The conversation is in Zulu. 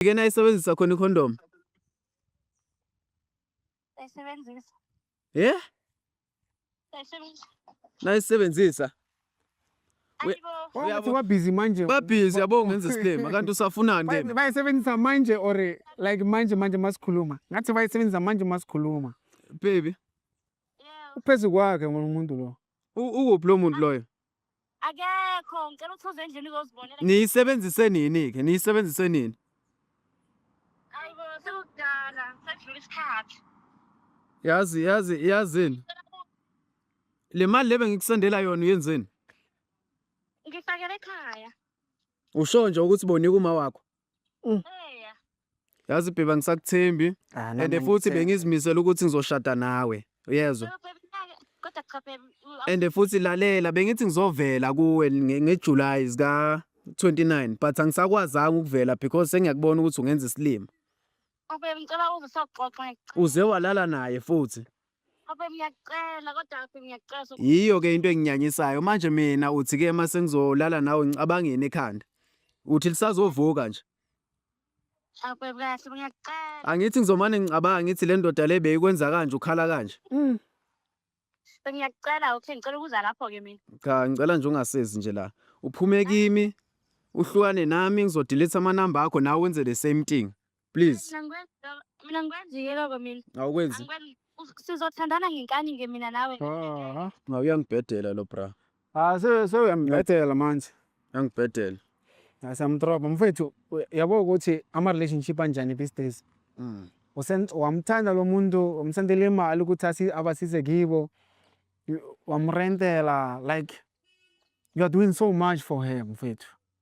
Ike nayisebenzisa khona ikhondomu? Sayisebenzisa. Ye? Sayisebenzisa. Nayisebenzisa. Uyathi wabhizi manje. Babhizi yabo ngenza isilima kanti usafunani ke? Bayisebenzisa manje or like manje manje masikhuluma. Ngathi bayisebenzisa manje masikhuluma. Baby. Uphezu kwakhe ngomuntu lo. U- ukuphi lo muntu loyo akekho ngicela ukuthi uze endlini uzozibonela niyisebenzise nini-ke niyisebenzise nini ayibo sekudala sekudlula isikhathi yazi yazi yazini le mali le bengikusendela yona uyenzeni ngifakele ekhaya usho nje ukuthi bonika uma wakho Mm. Eya. Yazi bheba ngisakuthembi Ah, and nami futhi ngithemba. bengizimisela ukuthi ngizoshada nawe. Uyezwa? Phela phela mina-ke, Kodwa cha phela u- And futhi lalela bengithi ngizovela kuwe nge nge July zika 29 but angisakwazanga ukuvela because sengiyakubona ukuthi ungenza isilima. awubebe ngicela uze soxoxa ngicela. Uze walala naye futhi. Abe ngiyacela kodwa abe ngiyacela so Yiyo ke into enginyanyisayo manje mina uthi ke uma sengizolala nawe ngicabangeni ekhanda. Uthi lisazovuka nje. abe kahle ngiyacela. Angithi ngizomane ngicabanga ngithi le ndoda le beyikwenza kanje ukhala kanje. Mm. Bengiyacela okay ngicela ukuza lapho ke mina. Cha ngicela nje ungasezi nje la. Uphume kimi uhlukane nami ngizodelete ama number akho nawe wenze the same thing. please Mina ngikwenza- mina ngikwenza yiloko mina awukwenzi Angikwenzi- us- sizothandana ngenkani nge mina nawe Aha. nga uyangibhedela lo bra Ah, se sewuyambethela manje. uyangibhedela Asamdroba mfethu u- yabo ukuthi ama relationship anjani these days. Mm. Usen wamthanda lo muntu umsendele imali ukuthi asi abasize kibo. You- Wamrentela like you are doing so much for her mfethu.